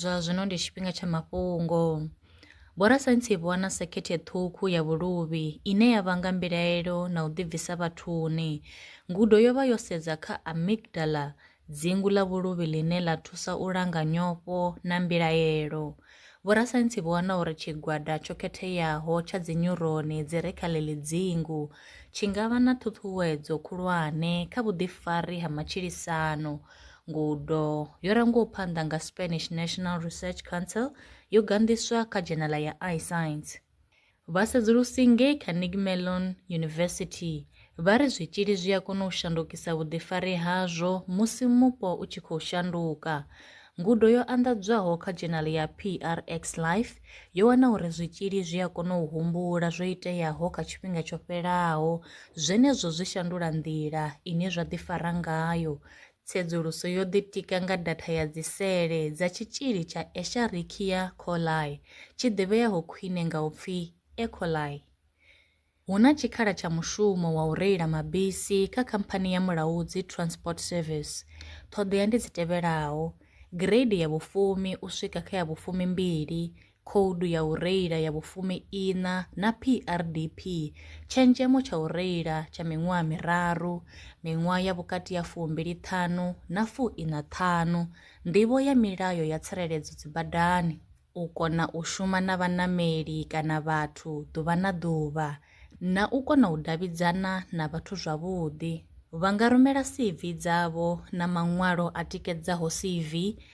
Zwa zwino ndi tshifhinga tsha mafhungo. Vhorasaintsi vho wana sekhethe ṱhukhu ya vhuluvhi ine ya vhanga mbilaelo na u ḓibvisa vhathuni. Ngudo yo vha yo sedza kha amygdala, dzingu ḽa vhuluvhi ḽine ḽa thusa u langa nyofho na mbilaelo. Vhorasaintsi vho wana uri tshigwada tsho khetheaho tsha dzinyuroni dzi re kha ḽeḽi dzingu tshi nga vha na ṱhuṱhuwedzo khulwane kha vhuḓifari ha matshilisano Ngudo yo rangiwaho phanḓa nga Spanish National Research Council yo ganḓiswa kha dzhenala ya iScience. Vhasedzulusi ngei Carnegie Mellon University vha ri zwitzhili zwi a kona u shandukisa vhuḓifari hazwo musi mupo u tshi khou shanduka. Ngudo yo anḓadzwaho kha dzhenala ya PRX Life yo wana uri zwitzhili zwi a kona u humbula zwo iteaho kha tshifhinga tsho fhelaho Zwenezwo zwi shandula nḓila ine zwa ḓifara ngayo. Tsedzuluso yo ḓitika nga datha ya dzisele dza tshitzhili tsha Escherichia coli, tshi ḓivheaho khwine nga u pfi E. coli. Hu na tshikhala tsha mushumo wa u reila mabisi kha khamphani ya Mulaudzi Transport Service. Ṱhoḓea ndi dzi tevhelaho, gireidi ya vhufumi u swika kha ya vhufumi mbili, Khoudu ya u Reila ya vhufumi-iṋa na PRDP, tshenzhemo tsha u reila tsha miṅwaha miraru, miṅwaha ya vhukati ha fumbili-ṱhanu na fu-iṋa-ṱhanu, nḓivho ya milayo ya tsireledzo dzibadani, u kona u shuma na vhaṋameli kana vhathu ḓuvha na ḓuvha, na u kona u davhidzana na vhathu zwavhuḓi. Vha nga rumela CV dzavho na maṅwalo a tikedzaho CV